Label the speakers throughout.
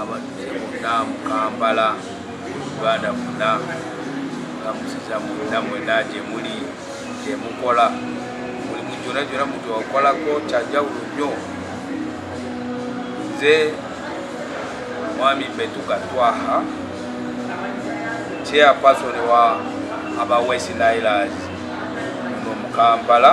Speaker 1: abadde munda mu kampala uganda munda amusiza munda mwena gyemuli gyemukola mulimu gyona gyona muntu wakolako kyanjawulo nnyo nze mwami betuka twaha chairperson wa aba west nilers muno mu kampala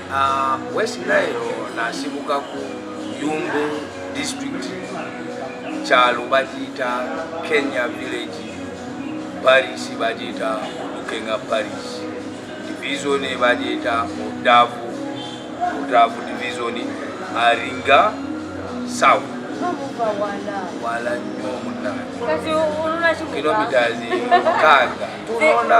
Speaker 2: Uh, West
Speaker 1: Nile nasibuka ku Yumbe district kyalo bagiyita Kenya village Paris bagiyita Lukenga Paris division bagiyita Odavu Odavu division Aringa South wala nnyo munna kilometres mukaaga tunona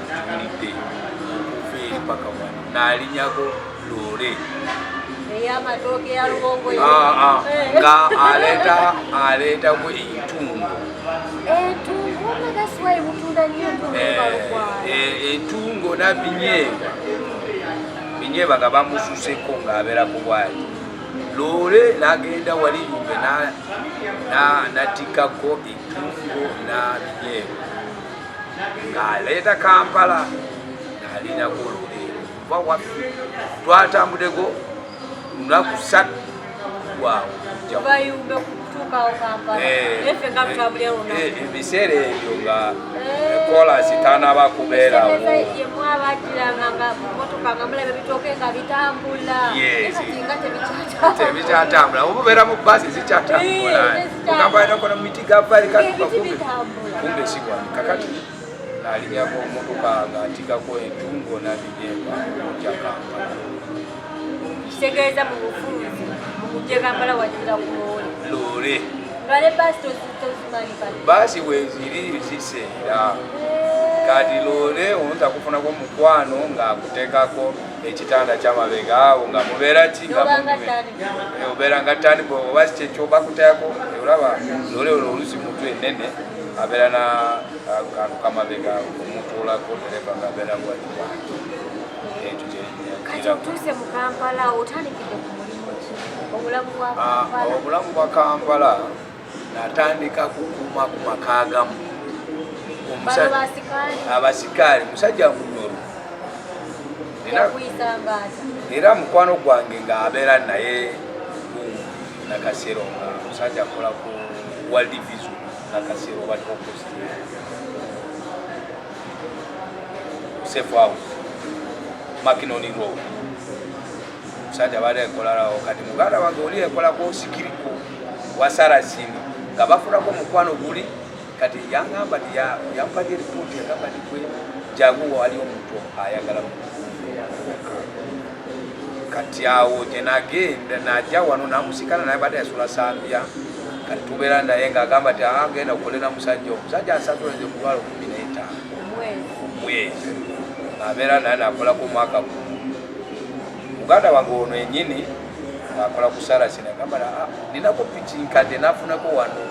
Speaker 1: wulidde okuva eri paka wano nalinyako loole
Speaker 2: ah, ah. nga
Speaker 1: aleeta aleetaku entungo
Speaker 2: entungo
Speaker 1: eh, eh, nabinyeebwa binyeebwa nga bamususeko ng'abeera ku bwali loole nagenda wali yumbe natikako entungo nabinyeebwa ng'aleeta kampala ng'alinako olule kuba waffe twatambudeko lunaku satu waawo ebiseera ebyo nga kolasi tanaba kubeerawo tebikyatambula obubeera mu basi zikyatambula ogamba inokono miti gavalikatukakubi kumbe sikwani kakati nalinyako omutuka nga ntikako entungo nabijemba okujja kampala kitegeeza
Speaker 2: mu bufunzi mukujja kampala wajira ku loole loole
Speaker 1: nga ne
Speaker 2: baasi tozimanyi baasi weziri
Speaker 1: ziseera kati loole omuntu akufunako mukwano ng'akuteekako ekitanda kyamabega awo nga mubeera ki obeera nga tani oba kyekyobakutayako olaba lole olwo olusi mutu enene abeera na kantu kamabega omutuulako nereva nga abeera waliwa ekyo kyenyakiraotuuse mu kampala otandikidde
Speaker 2: ku mulimu ki obulamu bwa ah,
Speaker 1: kampala natandika kukuuma ku maka agamu abasikaali musajja munyoro era mukwano gwange nga abeera naye nakasero nga musajja akola ku world vision nakasero baliwo posti safe house makinoni road musajja bali ekolalawo kati muganda wange oli ekolako sikiriko wasarasini nga bafulako omukwano guli kati yangamba ti yampadde lipooti yagamba ti gwe jangu nga wali omuntu ayagala kati awo gye nagenda naja wano namusikana naye badde yasula sambya kati tubeera naye nga agamba ti agenda ah, kukolera musajja omusajja ansatuleze omutwalo kumi netaano omwezi abeera naye nakolako omwaka gumu muganda wange ono enyini akola ku sarasi nagamba ah, ninako piki nkadde nafunako wano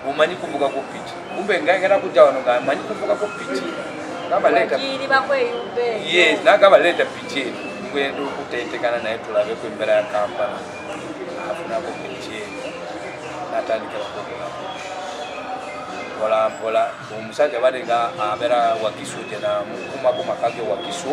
Speaker 1: omanyi kuvuga ku piki kumbe ngayagala kujja wano nga amanyi kuvuga ku piki nagamba leeta piki eno ngwenda okutetekana naye tulabeku embera ya kampala afunako piki eno natandikirakukulako mpolampola omusajja bade nga abeera wakiso gye namukumako makage wakiso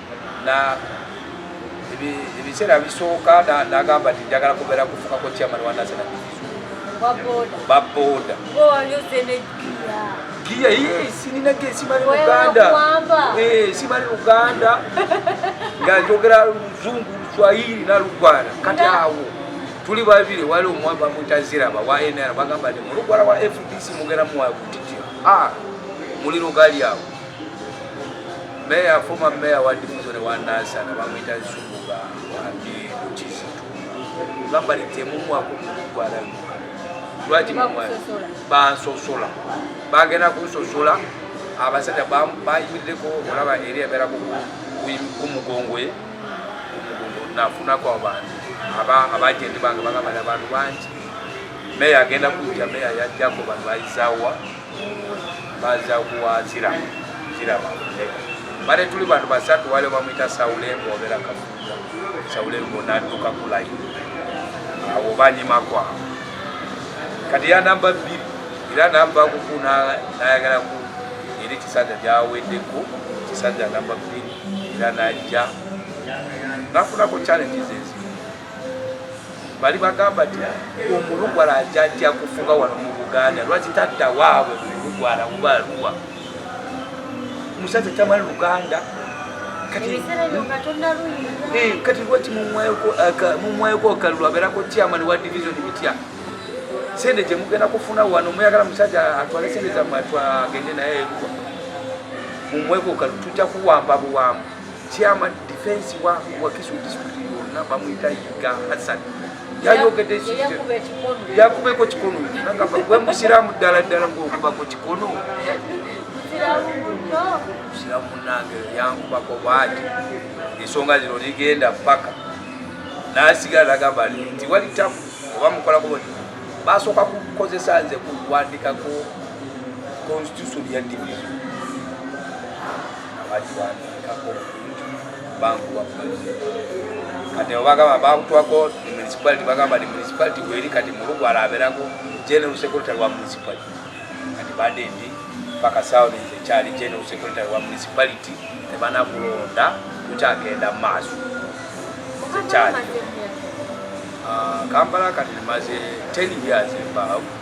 Speaker 1: na ebiseera bisooka nagamba nti njagala kubeera kufukako chairman wa national baboda giya ye sinina ge simali luganda eh, simali luganda nga njogera luzungu luswahili nalugwala kati awo tuli babiri wali omwami bamwita ziraba wa nr bagamba nti mulugwala wa fdc mugera muwayo kutitira ah, muliro gali awo Meya fuma meya wa division wa Nansana bamwita Nsuku nga wambi Kizito gamba litemumwa ku mugwala lwaki mumwa bansosola bagenda kunsosola abasajja bayimirireko olaba eri abeera ku mugongo ye nafunako abantu abajendi bange bagamba abantu bangi meya agenda kujja meya yajjako bantu bayizawa baza kuwazira kiraba bale tuli bantu basatu wale bamwita saulembo obera kafuza saulembo naduka kulayi awo banyimakwa kati ya namba bbiri era namba kuku nayagala ku eri kisanja gyaweddeko kisanja namba bbiri era najja nafunako challenges ezimu bali bagamba ti omulugwala ajajja kufuga wano mu buganda lwaki tadda waabwe mulugwala oba aluwa musajja tamali luganda kati lwaki mumwayoko akalulu abeerako chairman wa division bitya sente gyemugenda kufuna wano muyagala musajja atwale sente zamwe atwagende naye eruwa mumweko kalu tujja kuwamba buwamba Chairman defense wa Wakiso district yonna bamuyita Yiga Hassan yayogedde yakubeko kikono nagamba gwe musiraamu ddala ddala ngaokubako kikono musiraamu munange yankubako bwati ensonga zino ligenda paka nasigala nagamba nti wali tamu oba mukolako bati basooka kukozesa nze kuwandikako constitution ya division bakiwandiikako bankuwa kati obagamba bakutwako municipality bagamba ni municipality weri kati mulugu alaberako general secretary wa municipality kati bade ndi paka sound nze kyali general secretary wa municipality tebanakulonda tukyagenda maaso nze kyali ah, kampala kati maze 10 years embawo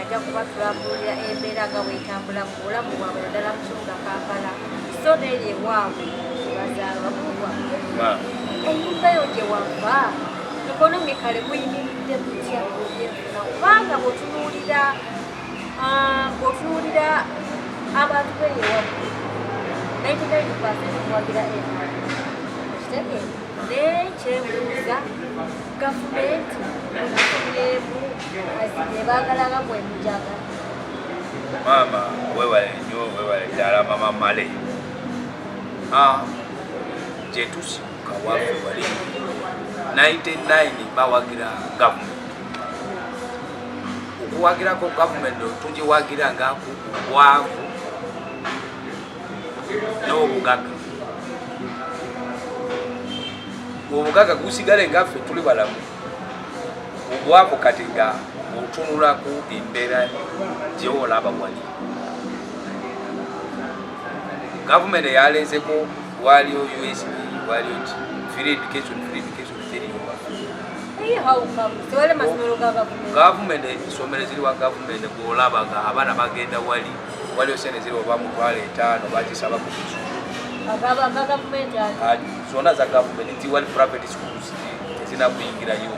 Speaker 2: ajja kuba tulabuulira embeera nga bwetambula mu bulamu bwabwe naddala mu kibuga kampala so neeri ewaabwe bazaalwa kuwa enyumba yo gye wava ekonomikale muyimiridde kutya ebyenfuna kubanga bwotunuulira ah, bwotunuulira abantu beeri ewaabwe 99 percent kuwagira ema kitegeeza naye kyebuuza gavumenti
Speaker 1: maama webale nyo webale ddala mama male ah, gyetusibuka wafe wali 99 bawagira gavumenti okuwagirako gavumenti tugiwagira nga ku bwavu n'obugaga obugaga gusigale ngaffe tuli balamu obwavu kati nga otunulaku embeera gyewolaba wali gavumenti eyalezeko waliyo usb waliyo ki free education free education teriyo
Speaker 2: gavumenti esomero
Speaker 1: ziri wa gavumenti gwolaba nga abaana bagenda wali waliyo sente ziri oba mutwalo etaano bakisaba ku zona za
Speaker 2: gavumenti
Speaker 1: tiwali private tezina kuyingirayo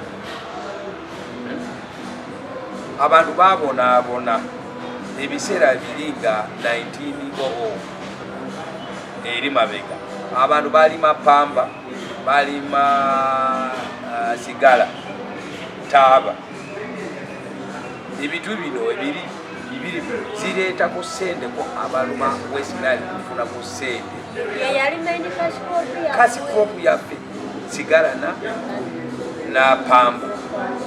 Speaker 1: abantu babonaabona ebiseera biri nga 1900 eri mabega abantu balima pamba balima uh, sigala taaba ebintu bino ebiri bibiri zireetako sente ku abaluma wesinaali kufuna ku sente
Speaker 2: kasi
Speaker 1: kopu yaffe sigala na napambu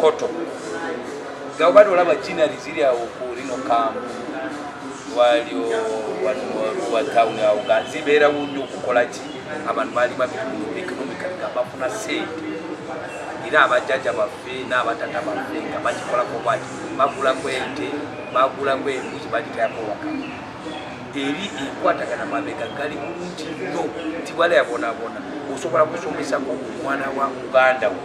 Speaker 1: koto nga obade olaba jinari ziri awo kulino kambu walio wa town awo nga zibeera wunyo okukola ki abantu baali babiumikalika bafuna sente era abajaja baffe n'abatata baffe nga bakikolako bwaki bagulako ente bagulako embuzi bagitayako waka eri enkwatagana mabega gali bulungi nnyo nti wala yabonabona osobola kusomesako omwana wa muganda wo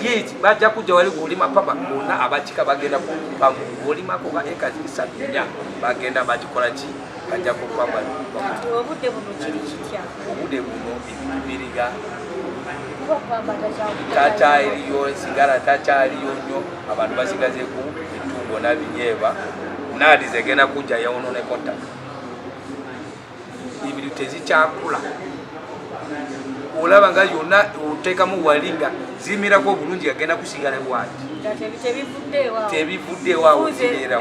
Speaker 2: yeti
Speaker 1: bajja kujja wali kulima papa bonna abakika bagenda kupamu olimako ba ekazi bisatu nya bagenda bakikola ki bajja kupama obudde buno
Speaker 2: kiri kitya obudde buno
Speaker 1: ebintu biriga
Speaker 2: takyaliyo
Speaker 1: sigala takyaliyo nnyo abantu basigazeku etungo nabinyeeba naadi zegenda kujja yawononeko ttaka ebintu tezikyakula olaba nga yonna otekamu wali nga zimirako obulungi agenda kusigala bwati tebivuddeewo awo kibeera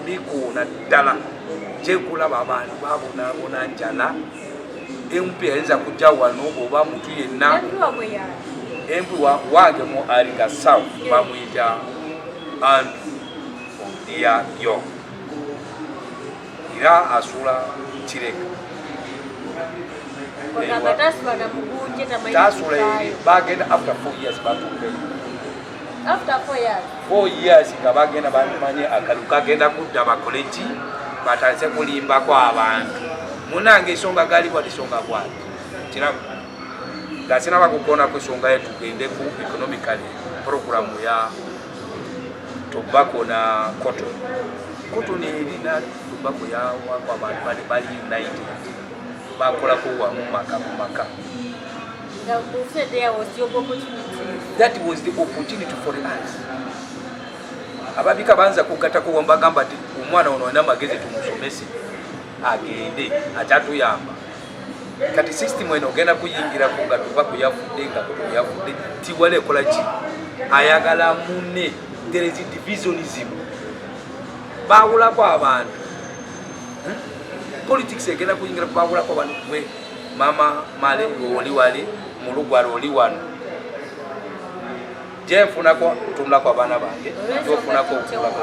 Speaker 1: bikoona ddala gyekulaba abantu babonabona njala empi yayinza kujja wano oba mutu yenna empi wange mu ariga south bamwita andrew odia yo era asula kireka tasula bagenda after four years batumbeyo
Speaker 2: after
Speaker 1: 4 years 4 years nga bagenda bamanye akalu kagenda kudda bakole ki batandise kulimbako abantu munange ensonga gali bwati songa bwati kirabu nga sinaba kukona ku ensonga ye tugende ku economically programu ya tobacco na cotton cotton erina tobacco ya wako abantu bali bali united bakolako wamu maka ku maka That was the opportunity for us. Ababika banza kugatako wambagamba ti omwana ono ana magezi tumusomese agende atatuyamba kati system eno ogenda kuyingira ku nga tuba kuyafudde nga kuyafudde tiwala ekola ki ayagala mune there is divisionism bawulako abantu hmm? politics egenda kuyingira kubawulako abantu mama male ngoli wali mulugwala oli wano gyenfunako ntunulako abaana bange gyofunako okulako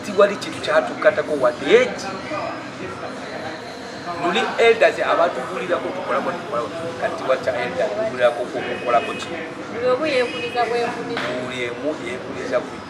Speaker 1: tiwali kintu kyatukkatako wadde eki luli elders abatugulirako tukolako tukolako kati waca elder tugulirako kukolako kino
Speaker 2: buli emu
Speaker 1: yekuliza ku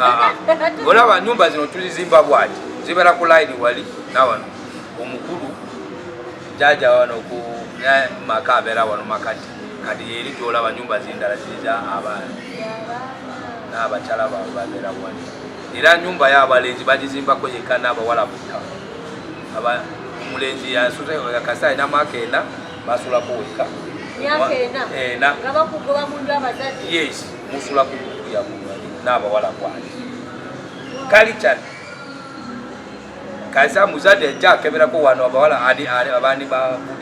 Speaker 2: ah, ah. olaba nyumba zino tulizimba
Speaker 1: bwati zibera ku line wali nawano omukulu jaja wano ku maka abera wano makati kati eri gyolaba nyumba zindala ziriza abaana n'abakyala baabwe babeera wali era nyumba y'abalenzi bagizimbako yekka n'abawala butta omulenzi yasuze kasita alina mwaka ena basulako wekka
Speaker 2: yes musula
Speaker 1: ku kukuya munyonyi n'abawala kwali kalicani kaza muzadde ajja akeberako wano abawala abandi babude